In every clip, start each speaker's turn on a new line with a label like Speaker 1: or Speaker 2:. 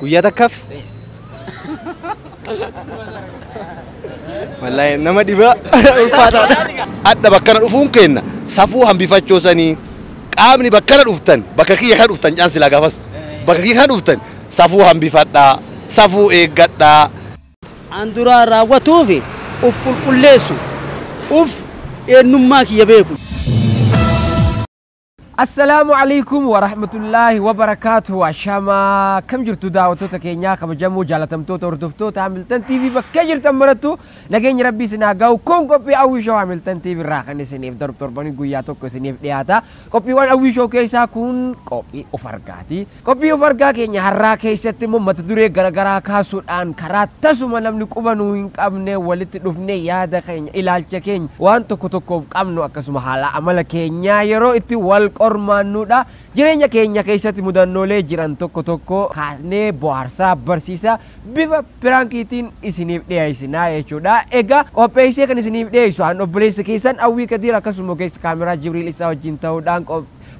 Speaker 1: Guyyaa takkaaf. Wallaahi nama dhibaa ulfaataadha. Adha bakkana
Speaker 2: dhufuun keenna safuu hambifachoo sanii qaamni bakkana dhuftan bakka kiyya kana dhuftan caan silaa gaafas bakka kiyya kana dhuftan safuu hambifadhaa safuu eeggadhaa. An
Speaker 3: duraan raawwatuufi uf qulqulleessu. Uff eennummaa kiyya beeku.
Speaker 4: Assalaamu Aleykum Warahmatullaahi Wabarakaatuhu Ashaama akkam jirtu daawwattoota keenyaa kabajamoo jaalatamtoota hordoftoota Hamiltan TV bakkee jirtan marattu nageenyi rabbii isin haa gahu kun qophii Hawwii Show Hamiltan TV irraa kan isiniif darbu torbanii guyyaa tokko isiniif dhiyaata qophiiwwan Hawwii Show keessaa kun qophii of argaatii Qophii of argaa keenya har'aa keessatti immoo mata duree garagaraa kaasuudhaan karaa tasuma namni quba nuu hin qabneen walitti dhufnee yaada keenya, ilaalcha keenya waan tokko tokkoof qabnu akkasuma haala amala keenyaa yeroo itti wal qormaannuudha. Jireenya keenya keessatti mudannoolee jiran tokko tokko kaasnee bohaarsaa, barsiisaa bifa piraankiitiin isiniif dhiyeessinaa jechuudha. Egaa qopheessee kan isiniif dhiyeessu an obboleessa keessan Awwii Kadiir akkasuma ogeessa kaameraa Jibriil Ibsaa wajjin ta'uudhaan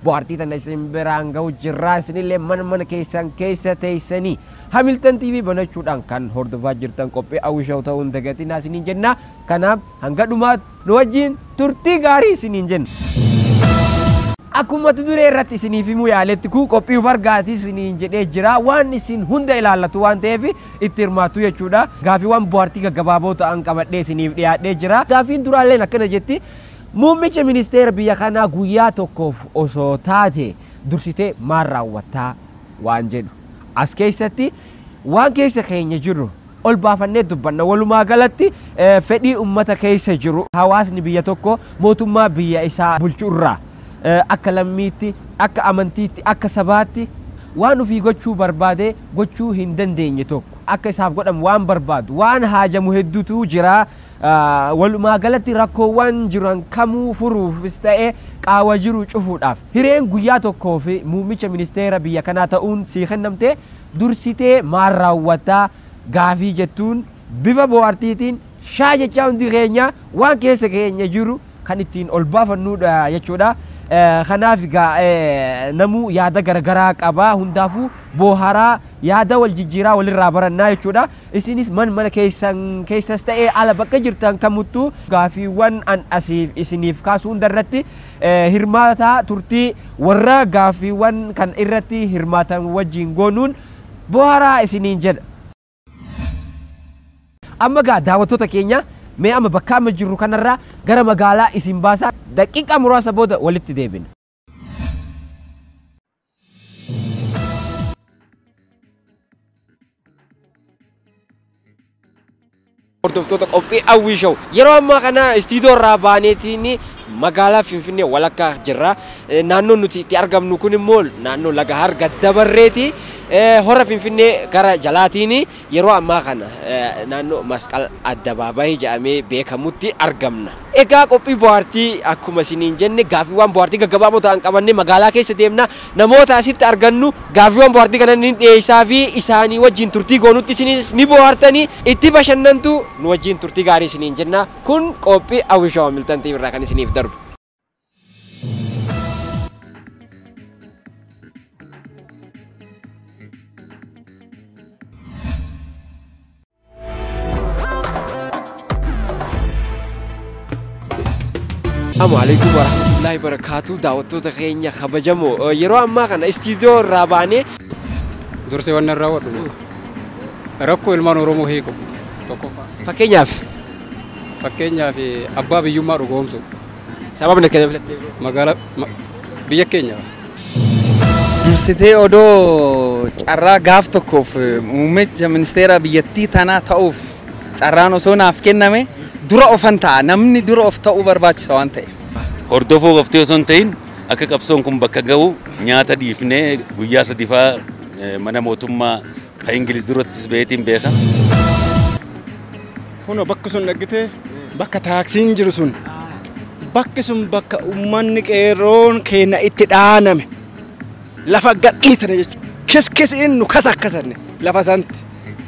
Speaker 4: Bohaartii tana isin biraan gahu jirraa isinillee mana mana keessan keessa teessanii Hamilton TV banachuudhaan kan hordofaa jirtan qophii Hawwi Show ta'uu hin dagatinaa isiniin jenna. Kanaaf hanga dhumaatti nu wajjin turtii gaarii isiniin jenna. Akkuma mata duree irratti isiniif himuu yaaletti kun qophii of argaati isiniin jedhee jira waan isin hunda ilaallatu waan ta'eef itti hirmaattu jechuudha. Gaafiiwwan bohaartii gaggabaaboo ta'an qabadhee isiniif dhiyaadhee jira. Gaafiin duraalleen akkana jetti. Muummicha ministeera biyya kanaa guyyaa tokkoof osoo taate dursitee maal raawwattaa? waan jedhu. As keessatti waan keessa keenya jiru ol baafannee dubbanna. Walumaa galatti fedhii ummata keessa jiru hawaasni biyya tokkoo mootummaa biyya isaa bulchu irraa akka lammiitti, akka amantiitti, akka sabaatti waan ofii gochuu barbaadee gochuu hin dandeenye tokko akka isaaf godhamu waan barbaadu, waan haajamu hedduutu jira. Walumaagalatti rakkoowwan jiran kamuu furuufis ta'e qaawwa jiru cufuudhaaf hireen guyyaa tokkoof muummicha ministeera biyya kanaa ta'uun sii kennamte dursitee maal raawwatta gaafii jettuun bifa boohartiitiin shaa jechaa hundi keenya waan keessa keenya jiru kan ittiin ol baafannuudha jechuudha. Kanaaf egaa namuu yaada garagaraa qaba hundaafuu booharaa yaada wal jijjiiraa walirraa barannaa jechuudha. Isinis man mana keessan keessas ta'ee ala bakka jirtan kamuttuu gaaffiiwwan an asiif isiniif kaasu hunda irratti hirmaataa turtii warra gaaffiiwwan kan irratti hirmaatan wajjiin goonuun bohaaraa isiniin jedha. Amma egaa daawwattoota keenya mee amma bakka amma jirru kanarraa gara magaalaa isin baasaa daqiiqaa muraasa booda walitti deebina. hordoftoota qophii hawwii show yeroo ammaa kana istiidoo irraa baaneetiin magaalaa finfinnee walakkaa jirra Eh, naannoon nuti itti argamnu kun immoo naannoo laga harga dabarreeti Eh, hora finfinnee gara jalaatiin Yeroo ammaa kana naannoo Masqal Addabaabaayii jedhamee beekamutti argamna. Egaa qophii bohaartii akkuma isiniin jenne gaaffiiwwaan bohaartii gaggabaaboo ta'an qabannee magaalaa keessa deemna. Namoota asitti argannu gaaffiiwwaan bohaartii kana ni dhiyeessaafii isaanii wajjin turtii goonutti isinis ni bohaartani, itti bashannantu. Nu wajjin turtii gaarii isiniin jenna. Kun qophii Hawwii Show Hamilton TV irraa kan isiniif darbu. Assalamu alaikum warahmatullahi wabarakatuh daawwattoota keenya kabajamoo yeroo ammaa kana istiidiyoo irraa baanee dursee
Speaker 5: waan irraa wadhu rakkoo ilmaan oromoo hiiku tokkoffaa fakkeenyaaf
Speaker 4: Fakkeenyaaf
Speaker 5: abbaa biyyummaa dhugoomsuu. Sababni itti kana
Speaker 4: filattee beektu? Magaalaa ma,
Speaker 5: biyya keenya.
Speaker 1: Dursitee odoo carraa gaaf tokkoof muummicha ministeera biyyattii tanaa ta'uuf carraan osoo naaf kenname dura ofan ta'a. Namni dura of ta'uu barbaachisa waan ta'eef. Hordofuu qoftee
Speaker 6: osoo hin ta'in akka qabsoon kun bakka ga'u nyaata dhiifnee guyyaa sadifaa mana mootummaa Ka Ingiliz durattis baheetiin beeka.
Speaker 7: Kunoo bakki sun dhaggitee bakka taaksiin jiru sun bakki sun bakka uummanni qeerroon keenya itti dhaaname lafa gadhiitane jechuudha. Kiskisiin nu kasakkasanne lafa santi.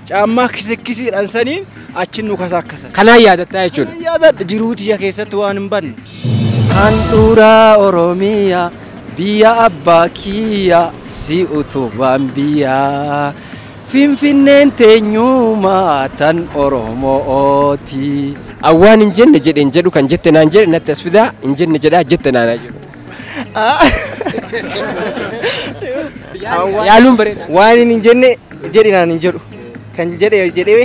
Speaker 7: Caammaa kisikisiidhaan saniin achi nu kasakkasan. Kanaa yaadattaa jechuudha.
Speaker 4: Yaadadha jiruu tiyya
Speaker 7: keessatti waan hin banne. Handhuura
Speaker 8: Oromiyaa. Biyya abbaa kiyya si utubaan biyya Finfinneen teenyuma tan Oromo'ooti. An waan hin
Speaker 4: jenne jedhe hin jedhu kan jette naan jedhe natti as fidaa hin jenne jedhaa jette naan haa jedhu. Yaaluun bareeda. Waan hin jenne
Speaker 3: jedhe naan hin jedhu kan jedhe jedhee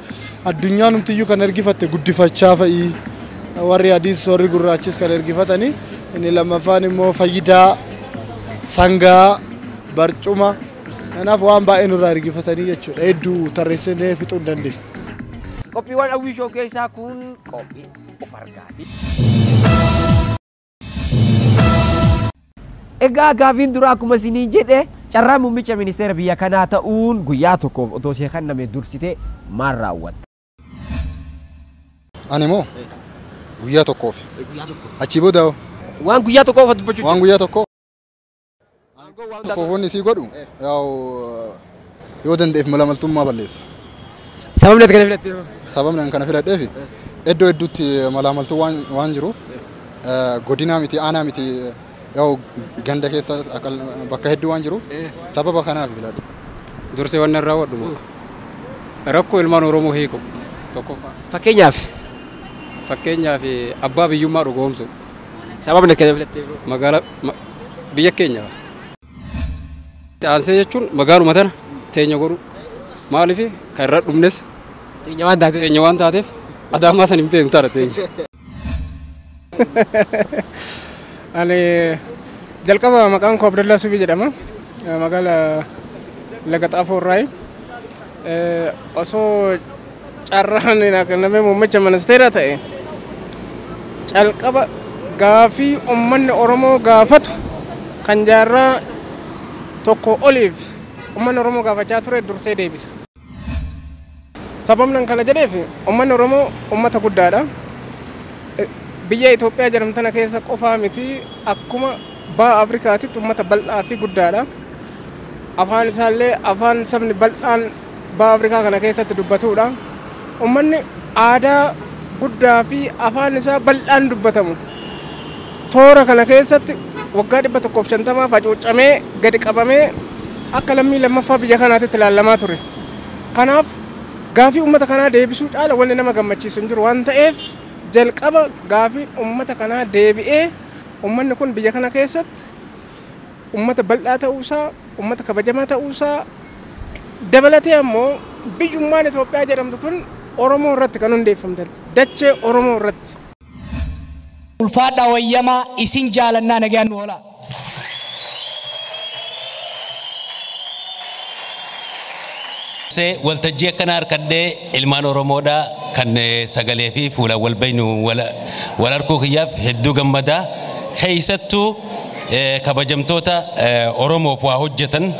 Speaker 9: addunyaanumtiyyuu kan ergifatte guddifachaa fa'i warri adiis warri gurraachis kan ergifatanii inni lammaffaan immoo fayyidaa sangaa barcuma kanaaf waan baay'ee nurraa ergifatanii jechuudha hedduu tarreessinee fixuu hin dandeenye. Qophiiwwan
Speaker 4: Hawwii Show keessaa kun qophii of argaati. Egaa gaafiin duraa akkuma isinii jedhe carraa muummicha ministeera biyya kanaa ta'uun guyyaa tokkoof otoo ishee kenname dursitee maal raawwatta?
Speaker 9: Ani moo guyyaa tokkoof achii booda hoo Waan guyyaa tokkoo
Speaker 4: qofa dubbachuu waan guyyaa tokkoo
Speaker 9: Tokkoof wanni isii godhu yaa'u yoo danda'eef malamaltummaa balleessa. Sababni
Speaker 4: ati kana filattee hoo? Sababni ani kana filadheef
Speaker 9: iddoo hedduutti malaamaltuu waan waan jiruuf eh, godinaa miti aanaa miti yaa'u ganda keessa akka- bakka hedduu waan jiruuf sababa kanaaf filadhe. Dursee wanni
Speaker 5: irraa wadhu moo? Rakkoo ilmaan Oromoo hiiku tokkoffaa. Fakkeenyaaf Fakkeenyaaf abbaa biyyummaa dhugoomsu. sababni ati
Speaker 4: kana filattee hoo? Magaalaa ma-
Speaker 5: biyya keenya kana. Itti aansee jechuun magaaluma tana teenya godhuu maaliif kan irra dhumnes Teenya waan taate. teenya waan taateef adaamaa san hin beeknu taana teenya.
Speaker 10: Ani jalqaba maqaan koo Abdallaa Subii jedhama. Magaala Laga Xaafoo irraayi. Osoo Carraan naa kennamee muummicha ministeera ta'e calqaba gaaffii ummanni Oromoo gaafatu kan jaarraa tokkoo oliif ummanni Oromoo gaafachaa ture dursee deebisa. Sababnan kana jedheef ummanni Oromoo ummata guddaadha. Biyya Itoophiyaa jedhamtu tana keessa qofaa miti akkuma baha Afrikaatitti ummata bal'aa fi guddaadha. Afaan isaallee afaan sabni bal'aan Baha Afrikaa kana keessatti dubbatuudha. Ummanni aadaa guddaa fi afaan isaa bal'aan dubbatamu toora kana keessatti waggaa 150 facuuccamee gadi qabamee akka lammii lammaffaa biyya kanaatitti ilaalamaa ture. Kanaaf gaafii ummata kanaa deebisuu caala wanni nama gammachiisu hin jiru waan ta'eef jalqaba gaafiin ummata kanaa deebi'ee ummanni kun biyya kana keessatti ummata bal'aa ta'uu isaa, ummata kabajamaa ta'uu isaa dabalatee ammoo biyyummaan Itoophiyaa jedhamtu tun Oromoo irratti kan hundeeffamte dachee Oromoo irratti.
Speaker 11: Ulfaadhaa wayyamaa isin jaalannaa nagayaan nu olaa.
Speaker 6: Dursee waltajjii akkana harkadhee ilmaan Oromoodha kan sagalee fi fuulaan wal beeknu wal arguu kiyyaaf hedduu gammada. Keessattuu kabajamtoota Oromoof waa hojjetan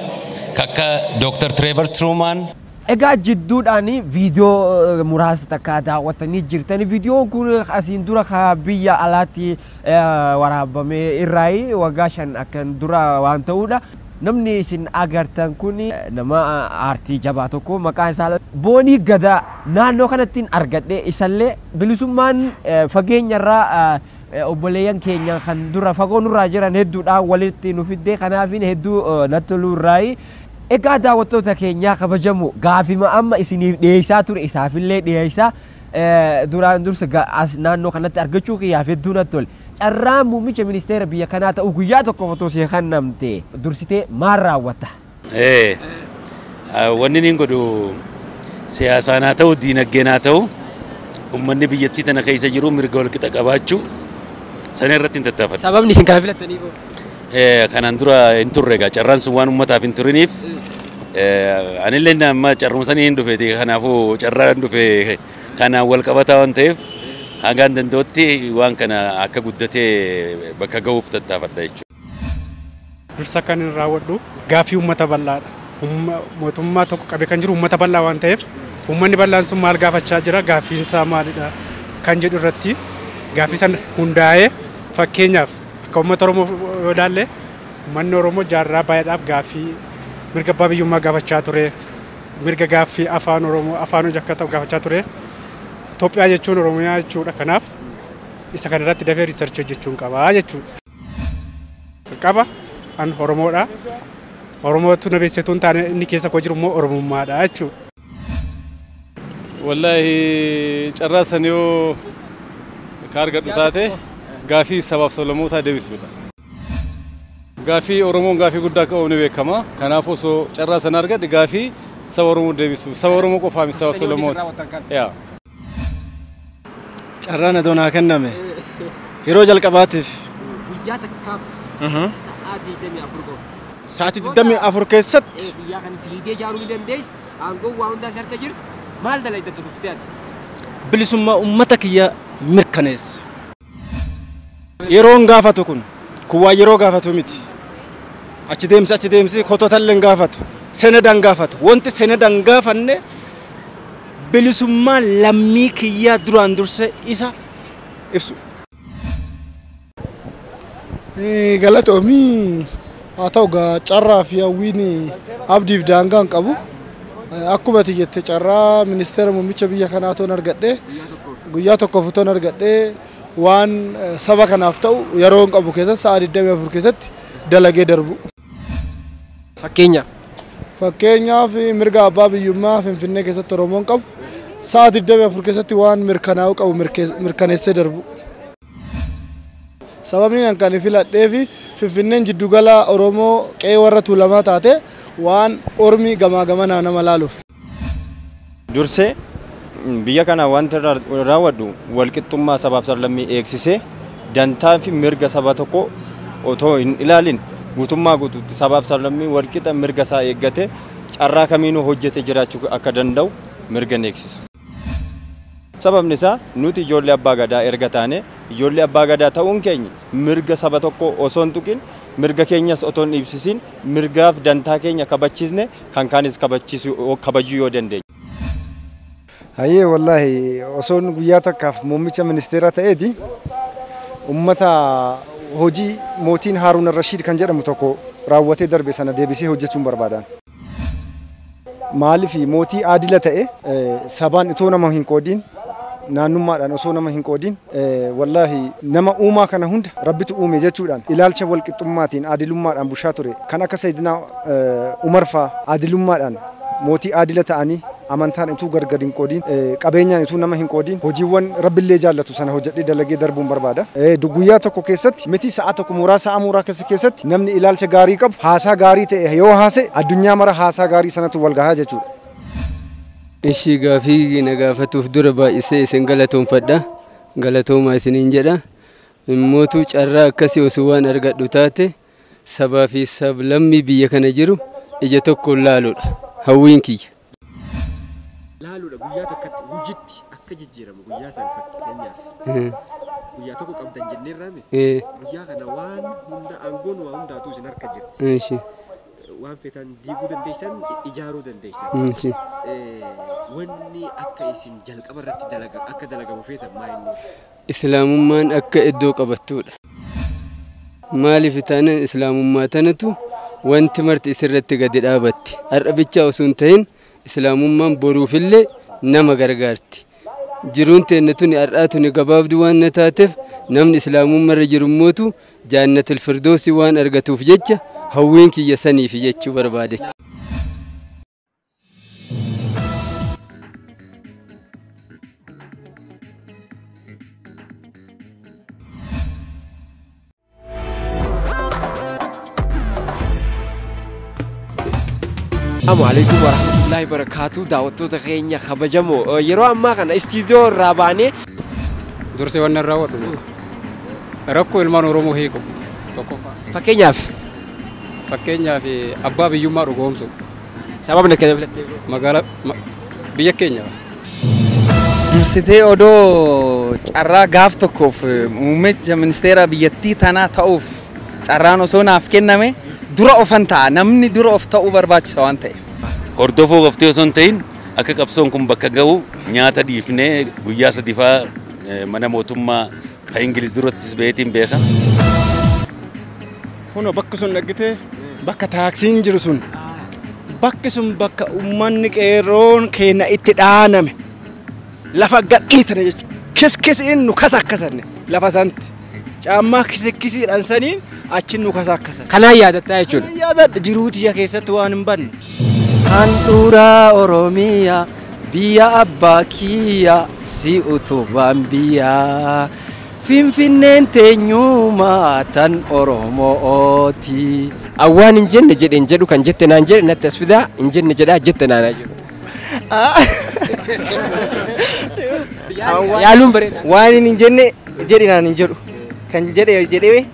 Speaker 6: ka akka Dr. Trevor Truman. Egaa jidduudhaan
Speaker 4: video muraasa takka daawwattanii jirtan. Videon kun asiin dura ka biyya alaatti waraabame irraayi waggaa shan akkan dura waan ta'uudha. Namni isin agartan kun nama aartii jabaa tokko maqaan isaa Boonii Gadaa naannoo kanattin argadhe isallee bilisummaan fageenyarraa Obboleeyyan keenya kan dura fagoo nurraa jiran hedduudhaan walitti nu fidde kanaafiin hedduu natti toluu irraayi. Egaa daawwattoota keenyaa kabajamoo gaafima amma isiniif dhiyeessaa ture isaafillee dhiyeessaa duraan dursa as naannoo kanatti argachuu kiyyaaf hedduu natti tole. Carraan muummicha ministeera biyya kanaa ta'uu guyyaa tokkoof otoo sii kennamte dursitee maal raawwatta? Ee,
Speaker 6: wanni niin godhu siyaasaan haa ta'u, diinaggeen haa ta'u, ummanni biyyattii tana keessa jiru mirga walqixa qabaachuu sana irratti hin tattaafadhu. Sababni isin kana filattaniif
Speaker 4: hoo? Ee, kanaan
Speaker 6: dura hin turre egaa carraan sun waan ummataaf hin turiniif ee, anillee inni amma carruma sanii hin dhufeeti kanaafuu carraa hin dhufe kanaan wal qabataa waan ta'eef hangaan danda'utti waan kana akka guddatee bakka ga'uuf tattaafadha jechuudha.
Speaker 10: Dursa kan hin raawwadhu gaaffii uummata bal'aadha. Mootummaa tokko qabee kan jiru uummata bal'aa waan ta'eef uummanni
Speaker 12: bal'aan sun maal gaafachaa jira gaaffiin isaa maalidha kan jedhu irratti gaaffii sana hundaa'ee fakkeenyaaf akka uummata Oromoo yoo ilaalle uummanni Oromoo jaarraa baay'eedhaaf gaaffii mirga abbaa biyyummaa gaafachaa ture mirga gaaffii afaan Oromoo afaan hojii akka ta'u gaafachaa ture Itoophiyaa jechuun Oromiyaa jechuudha kanaaf isa kanarratti dafee riisarchii hojjechuun qabaa jechuudha. Jalqaba an Oromoodha. Oromootu na beeksise tun taane inni keessa koo jiru immoo Oromummaadha jechuudha. Wallaahi
Speaker 13: carraa san yoo ka argadhu taate gaafii sabaaf sablammootaa deebisuudha. Gaafii Oromoon gaafii guddaa akka qabu ni beekama. Kanaaf osoo carraa sana argadhe gaafii saba Oromoo deebisuuf saba Oromoo qofaa miti saba sablammoota.
Speaker 7: Carraan adoo naa kenname yeroo jalqabaatiif Guyyaa
Speaker 4: takkaaf sa'aa 24 qofa.
Speaker 7: sa'aatii 24 keessatti Eh, Guyyaa kan fiigdee
Speaker 4: ijaaruu ni dandeessa. Aangoon waa hundaa si harka jirti. Maal dalayda turte ati? bilisummaa
Speaker 7: uummata kiyyaa mirkaneessa. Yeroon gaafatu kun kun waan yeroo gaafatu miti. Achi deemsi achi deemsi kototallee hin gaafatu. Seneda hin gaafatu. Wanti seneda hin gaafanne bilisummaa lammii kiyyaa duraan dursee isa ibsu.
Speaker 9: Galatoomii. Haa ta'u egaa carraa fi hawwiin abdiif daangaa hin qabu. Akkuma ati jette carraa ministeera muummicha biyya kanaa toon argadhe guyyaa tokkoof utoon argadhe waan saba kanaaf ta'u yeroo hin qabu keessatti sa'a 24 keessatti dalagee darbu. Fakkeenyaaf. Fakkeenyaaf mirga abbaa biyyummaa Finfinnee keessatti Oromoon qabu sa'a 24 keessatti waan mirkanaa'uu qabu mirkaneessee darbu. Sababniin an kan filadheef Finfinneen jiddu gala Oromoo qe'ee warra Tuulamaa taate waan ormi gamaa gamanaa nama laaluuf.
Speaker 14: Dursee biyya kana wanti irra raawwadhu walqixxummaa sabaaf sablammii eegsisee dantaa fi mirga saba tokkoo otoo hin ilaalin guutummaa guutuutti sabaaf sablammii walqixa mirga isaa eeggatee carraa kamiinuu hojjetee jiraachuu akka danda'u mirga ni eegsisa. Sababni isaa nuti ijoollee Abbaa Gadaa erga taanee, ijoollee Abbaa Gadaa ta'uun keenya mirga saba tokkoo osoo hin tuqin, mirga keenyas otoo hin dhiibsisiin, mirgaaf dantaa keenya kabachiisnee kan kaanis kabachiisuu, kabajuu yoo dandeenye.
Speaker 15: Hayyee wallaahi osoon guyyaa takkaaf muummicha ministeeraa ta'eeti ummata hojii mootiin Haaruun Al-Rashiid kan jedhamu tokko raawwatee darbe sana deebisee hojjechuun barbaada. Maaliif mootii aadila ta'e sabaan itoo nama hin qoodiin naannummaadhaan osoo nama hin qoodiin wallaahi nama uumaa kana hunda rabbitu uume jechuudhaan ilaalcha walqixxummaatiin aadilummaadhaan bushaa ture kan akka sayyidinaa umar faa aadilummaadhaan mootii aadila ta'anii Amantaan utuu gar gad hin qoodiin, qabeenyaan utuu nama hin qoodiin, hojiiwwan Rabbi illee jaallatu sana hojjedhee dalagee darbuun barbaada. Guyyaa tokko keessatti miti, sa'aa tokko mooraa sa'aa muuraakessa keessatti namni ilaalcha gaarii qabu, haasaa gaarii ta'e yoo haasa'e, addunyaa mara haasaa gaarii sanatu wal gaha jechuu dha.
Speaker 16: Ishii gaafii na gaafatuuf dura baay'isee isin galatoomfadha. Galatoomaa isiniin jedha. Immootuu carraa akkasii osoo waan argadhu taate sabaa fi sablammii biyya kana jiru ija tokkoon laaluudha hawwiin kiyya.
Speaker 4: laaluudha guyyaa takkatti hujitti akka jijjiiramu guyyaa san fakkeenyaaf guyyaa tokko qabdan jenneerraami Ee, guyyaa kana waan hunda aangoon waa hundaatuu isin harka jirti inshi, waan feetan diiguu dandeessan ijaaruu dandeessan inshi. Eh, wanni akka isin jalqaba irratti dalaga akka dalagamu feetan maa inni Islaamummaan
Speaker 16: akka iddoo qabattuudha. Maaliif taanaan Islaamummaa tanatu wanti marti isirratti gadi dhaabatti. Har'a bichaa osoo hin tahin Islaamummaan boruufillee nama gargaarti. Jiruun teenna tuni har'aa tuni gabaabduu waan na taateef namni Islaamummarra jirummootu Jaannatul Firdoosii waan argatuuf jecha hawwiin kiyya saniifi jechuu barbaadetti.
Speaker 4: Assalamu alaikum warahmatullahi wabarakatuh daawwattoota keenya kabajamoo Eh, yeroo ammaa kana istiidiyoo irraa baanee dursee
Speaker 5: waan irraa wadhu rakkoo ilmaan oromoo hiiku tokkoffaa fakkeenyaaf Fakkeenyaaf abbaa biyyummaa dhugoomsuu. Sababni itti
Speaker 4: filattee beektu? Magaala ma-
Speaker 5: biyya keenya.
Speaker 1: Dursitee odoo carraa gaaf tokkoof muummicha ministeera biyyattii tanaa ta'uuf carraan osoo naaf kenname dura ofan ta'a.
Speaker 6: Namni
Speaker 1: dura of ta'uu barbaachisa waan ta'eef. Hordofuu qoftee osoo hin
Speaker 6: ta'in
Speaker 1: akka
Speaker 6: qabsoon kun bakka ga'u nyaata dhiifnee guyyaa sadifaa eh, mana mootummaa Ka Ingiliz durattis baheetiin beeka.
Speaker 7: Kunoo bakki sun dhaggitee bakka taaksiin jiru sun bakki sun bakka uummanni qeerroon keenya itti dhaaname lafa gadhiitane jechuudha. Kiskisiin nu kasakkasanne lafa santi. Caammaa kisikisiidhaan saniin achi nu kasakkasan. Kanaan yaadattaa jechuudha.
Speaker 4: Yaadadha jiruu tiyya
Speaker 7: keessatti waan hin banne. Handhuura
Speaker 8: Oromiyaa. Biyya abbaa kiyya si utubaan biyya Finfinneen teenyuma tan Oromo'ooti. An waan hin
Speaker 4: jenne jedhe hin jedhu kan jette naan jedhe natti as fidaa hin jenne jedhaa jette naan haa jedhu. Yaaluun bareeda. Waan hin jenne
Speaker 3: jedhe naan hin jedhu kan jedhe jedhee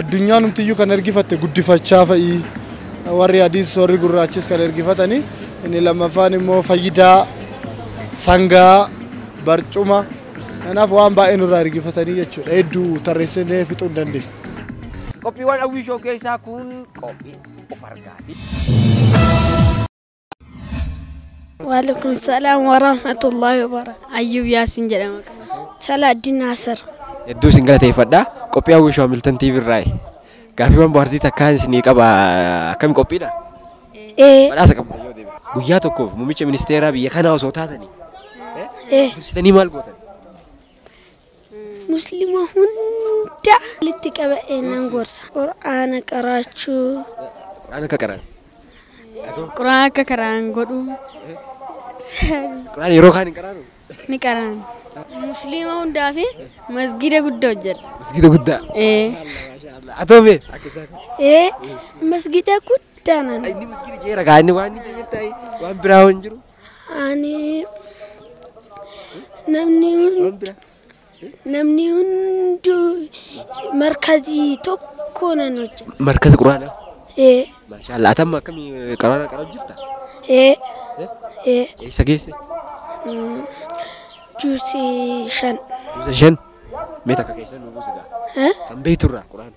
Speaker 9: addunyaanumtiyyuu kan ergifatte guddifachaa fa'i warri adiis warri gurraachis kan ergifatanii inni lammaffaan immoo fayyidaa sangaa barcuma kanaaf waan baay'ee nurraa ergifatanii jechuudha hedduu tarreessinee fixuu hin dandeenye. Qophiiwwan
Speaker 4: Hawwii Show keessaa kun qophii of argaati.
Speaker 17: Waalaikum salaam wa rahmatullahi wa barakatuh. Ayyuub Yaasin jedhama.
Speaker 18: Salaaddin
Speaker 17: Naasir. Hedduu isin
Speaker 4: galateeffadha. Qophii Hawwii Shoo Hamiltan TV irraa gaaffiiwwan bohaartii takkaan isinii qaba. Akkami qophiidha? Ee. Badhaasa qabda yoo deebiste. Guyyaa tokkoof muummicha ministeeraa biyya kanaa osoo taatanii eh, Ee. dursitanii maal gootan?
Speaker 17: Muslima hunda walitti qaba'ee nan gorsa. Qur'aana qaraachuu. Qur'aana akka
Speaker 4: qara'an.
Speaker 18: Qur'aana akka qara'an godhuu.
Speaker 4: Qur'aana yeroo kaan hin qaraanu? Ni qara'an.
Speaker 18: Muslima hundaaf masgiida guddaa hojjedha. Masgiida guddaa?
Speaker 4: Ee. Atoo mee? Ee
Speaker 17: masgiida guddaa nan. Inni masgiida jeera kaa inni
Speaker 4: waan inni jeettaa'e waan biraa hin jiru. Ani namni
Speaker 17: hundi namni hunduu markazii tokko nan hojja. Markazi Quraana.
Speaker 4: Ee Maashaallah. Atamma akkamii qaraana qarab jirta? ee ee Eessa geesse?
Speaker 17: juusi shan. Buusa shan.
Speaker 4: Mee takka keessa nu buusi gaa. Ee? Kan beekturraa quraana.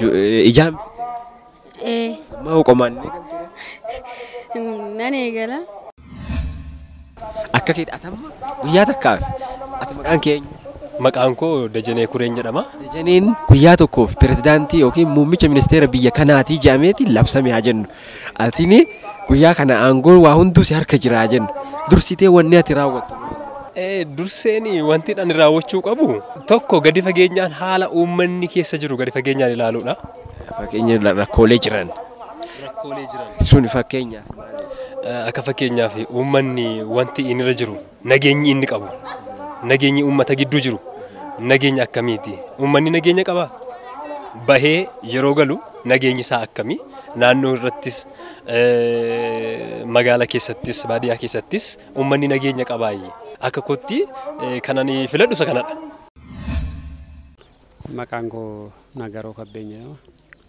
Speaker 4: Ju- eh, Ijaan ee maa qomaan hin eegan ture.
Speaker 18: nan eegala Akka
Speaker 4: keeti atamma guyyaa takkaaf ati maqaan keenya. Maqaan koo
Speaker 19: Dajanee Kureen jedhama. Dajaneen guyyaa
Speaker 4: tokkoof pirezidaantii yookiin muummicha ministeera biyya kanaatii jedhameeti labsame haa jennu. Atini guyyaa kana aangoon waa hunduu si harka jiraa jenna. Dursitee wanni ati raawwattu maal? Ee, durseen
Speaker 19: wanti ani raawwachuu qabu tokko gadi fageenyaan haala uummanni keessa jiru gadi fageenyaan ilaaluudha. Fakkeenya la-
Speaker 4: rakkoolee jiran. Rakkoolee
Speaker 19: jiran. Sun fakkeenyaaf.
Speaker 4: Eh, Akka
Speaker 19: fakkeenyaaf uummanni wanti inni irra jiru Nageenyi inni qabu, nageenyi uummata gidduu jiru nageenya akkamiiti? Uummanni nageenya qabaa? Bahee yeroo galu nageenyi isaa akkamii? Naannoo irrattis, magaala keessattis, baadiyyaa keessattis uummanni nageenya qabaayi? Akka kootti kan ani filadhu isa kanadha.
Speaker 12: Maqaan koo Nagaroo Kabbeen jedhama.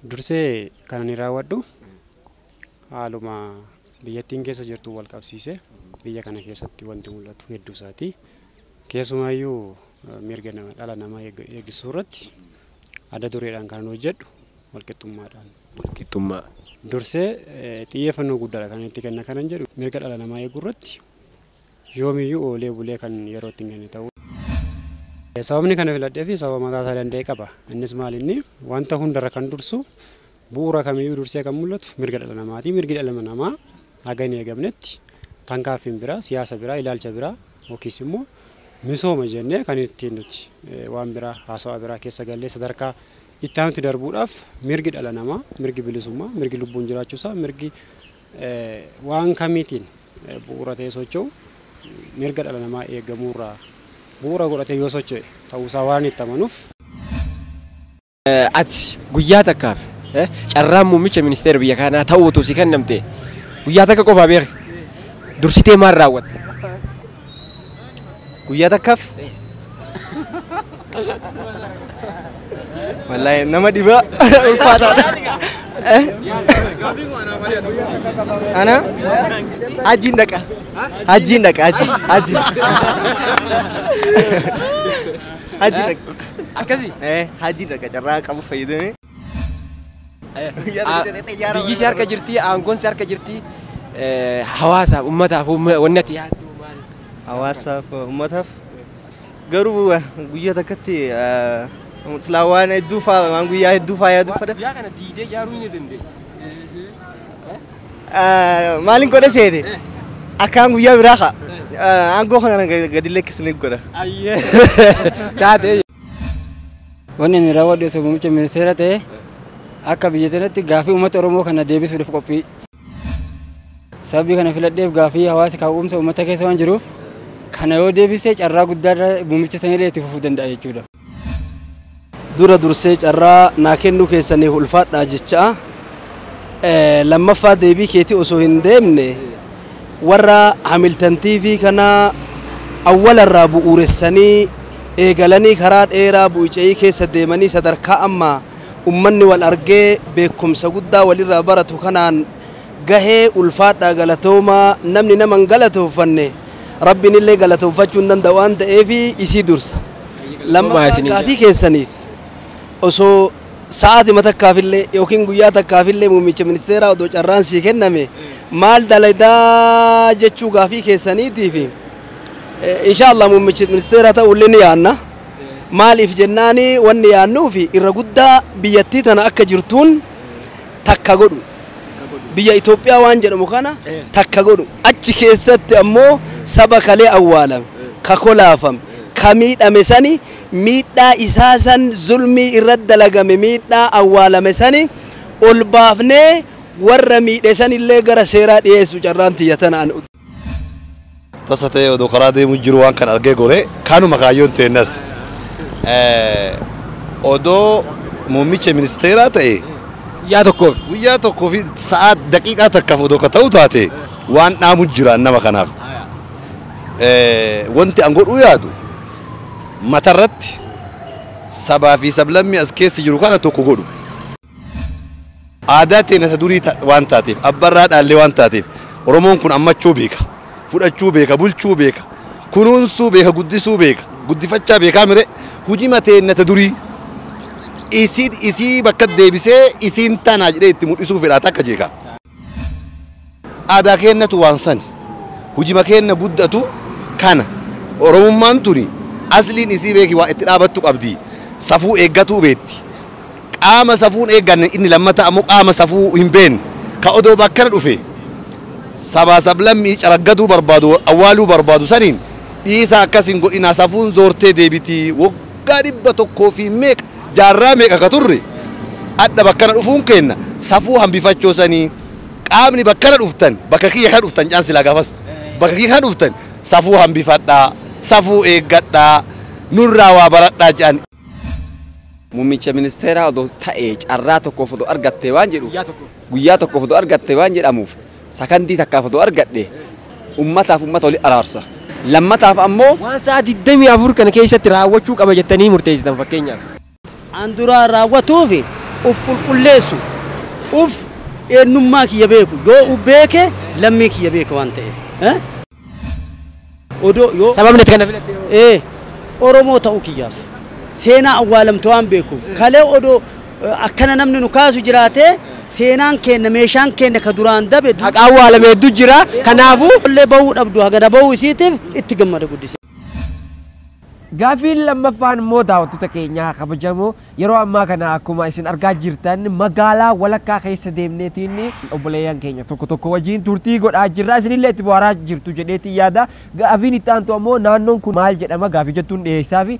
Speaker 12: Dursee kan ani raawwadhu haaluma biyyattiin keessa jirtuun walqabsiisee biyya kana keessatti wanti mul'atu hedduu isaati. Keessumaayyuu mirga nama dhala namaa eegsisuu irratti adda dureedhaan kanan hojjedhu walqixxummaadhaan. Walqixxummaa.
Speaker 4: Dursee
Speaker 12: xiyyeeffannoo guddaadha kan itti kenna kanan jedhu mirga dhala namaa eeguu irratti yoomiyyuu oolee bulee kan yeroo itti hin kenne ta'uu. Sababni kana filadhee fi sababa mataa isaa danda'e qaba. Innis maal inni wanta hundarra kan dursu Bu'uura kamiyyuu dursee kan mul'atu mirga dhala namaati. Mirgi dhala namaa haga hin eegamnetti tankaaffiin biraa, siyaasa biraa, ilaalcha biraa yookiis immoo misooma jennee kan ittiin nuti waan biraa haasawaa biraa keessa gallee sadarkaa itti aanutti darbuudhaaf mirgi dhala namaa, mirgi bilisummaa, mirgi lubbuun jiraachuusaa, mirgi waan kamiitiin bu'uura ta'ee socho'u mirga dhala namaa eegamuurraa bu'uura godhatee yoo socho'e ta'uusaa waan itti amanuuf.
Speaker 4: Ati guyyaa takkaaf eh, carraan muummicha ministeera biyya kanaa ta'uu utuu si kennamte guyyaa takka qofaa beeki. Dursitee maal raawwatta?
Speaker 20: Guyyaa takkaaf. Wallaahi nama dhibaa ulfaataadha. Eh? Ana hajjiin dhaqa. Hajjiin dhaqa hajji hajji. Haji dhaqa. Akkasi? Eh,
Speaker 4: haji dhaqa
Speaker 20: carraa qabu fayyadamee.
Speaker 4: Biyyi si harka jirti, aangoon si harka jirti. Eh, Hawaasaaf, ummataaf, umma- wanni ati yaaddu maal? Hawaasaaf,
Speaker 20: ummataaf. Garuu eh, guyyaa takkatti eh, silaa waan hedduu faa waan guyyaa hedduu faa yaaduu fada. Guyyaa kana diidee ijaaruu
Speaker 4: ni dandeessa.
Speaker 20: Maalin godha seete akkaan guyyaa biraa ka'a. Aangoo kana gadi lakkisne godha. Taatee.
Speaker 4: Wanni
Speaker 16: ani raawwadhu osoo muummicha ministeera ta'e akka biyya tanatti gaaffii uummata Oromoo kana deebisuudhaaf qophii. Sababii kana filadheef gaaffii hawaasa ka'umsa uummata keessa waan jiruuf kana yoo deebise carraa guddaa muummicha sanillee itti fufuu danda'a jechuudha.
Speaker 3: Dura dursee carraa naa kennuu keessaniif ulfaadhaa jechaa, lammaffaa deebii keetii osoo hin deemne warra Hamiltan TV kana awwala irraa bu'uuressanii eegalanii karaa dheeraa bu'i ce'ii keessa deemanii sadarkaa amma ummanni wal argee beekumsa guddaa walirraa baratu kanaan gahe ulfaadhaa galatoomaa namni nama hin galatooffanne Rabbiin illee galatoofachuu hin danda'u waan ta'eef isii dursa. Lammaffaa gaafii keessaniif osoo sa'aatima takkaafillee yookiin guyyaa takkaafillee muummicha ministeeraa odoo carraan sii kenname maal daladaa jechuu gaafii keessaniitiif inshaallah muummichi ministeeraa ta'ullee ni yaanna. Maaliif jennaani wanni yaannuu fi irra guddaa biyyattii tana akka jirtuun takka godhu. Biyya Itoophiyaa waan jedhamu kana takka godhu. Achi keessatti ammoo saba kalee awwaalame, ka kolaafame, ka miidhame sani, miidhaa isaa san zulmii irratti dalagame miidhaa awwaalame sani ol baafnee warra miidhe sanillee gara seeraa dhiyeessu carraan tiyya tana an.
Speaker 2: Tasa ta'ee odoo karaa deemu jiru waan kana argee gore, kanuma kaayyoon teennas. Odoo muummicha ministeeraa ta'ee. Guyyaa tokkoof. Guyyaa tokkoo fi sa'aa daqiiqaa takkaaf odoo ka ta'u taate waan dhaamu jiraan nama kanaaf. Wanti an godhuu yaadu matarratti sabaa fi sablammii as keessa jiru kana tokko godhu. Aadaa teenya isa durii waan taateef, abba irraa dhaallee waan taateef Oromoon kun ammachuu beeka, fudhachuu beeka, bulchuu beeka, kunuunsuu beeka, guddisuu beeka, guddifachaa beekaa mire hujima teenya isa durii isii bakka deebisee isiin tanaa jedhee itti mudhisuu fedhaa takka jeekaa. Aadaa keennatu waan sani. Hujima keenna guddatu kana. Oromummaan tuni asliin isii beeki waa itti dhaabattu qabdi. Safuu eeggatuu beetti. Qaama safuu hin eegganne inni lammataa ammoo qaama safuu hin beenne ka odoo bakkana dhufee sabaa sablammii caraggaduu barbaadu awwaaluu barbaadu saniin dhiisaa akkas hin godhinaa safuun zoortee deebiti. waggaa dhibba tokkoo fi meeqa jaarraa meeqa ka turre adha bakkana dhufuun keenna safuu hambifachoo sanii qaamni bakkana dhuftan bakka kiyya kana dhuftan jaan silaa gaafas bakka kiyya kana dhuftan safuu hambifadhaa safuu eeggadhaa nurraa waa baradhaa jaan
Speaker 1: Muummicha ministeeraa odoo ta'ee carraa tokkoof odoo argattee waan jedhu guyyaa tokkoof odoo argattee waan jedhamuuf Sakandii takkaaf odoo argadhe ummataaf ummata wali araarsa. Lammataaf ammoo. Waan sa'a 24
Speaker 4: kana keessatti raawwachuu qaba jettanii murteessitan fakkeenyaaf. an duraan
Speaker 3: raawwatuuf uf qulqulleessu. Uf, eennummaa kiyya beeku. Yoo uf beeke lammii kiyya beeke waan ta'eef. Odoo yoo Sababni ati kana filatte hoo?
Speaker 4: Ee, Oromoo ta'uu
Speaker 3: kiyyaaf. Seenaa awwaalamte waan beekuuf. Kalee odoo eh, akkana namni nu kaasu jiraatee seenaan keenna meeshaan keenna ka duraan dabe du- Haqa awwaalame hedduu
Speaker 4: jira. Kanaafuu
Speaker 3: Illee bahuu dhabdu
Speaker 4: hagana
Speaker 3: bahuu isiitiif itti gammada guddisee.
Speaker 4: Gaafiin lammaffaan immoo daawwattota keenyaa kabajamoo yeroo ammaa kana akkuma isin argaa jirtan magaalaa walakkaa keessa deemneetiin obboleeyyan keenya tokko tokko wajjin turtii godhaa jirra isinillee itti bohaaraa jirtu jedheetiin yaada gaafiin itti aantu ammoo naannoon kun maal jedhama gaafii jettuun dhiyeessaafi.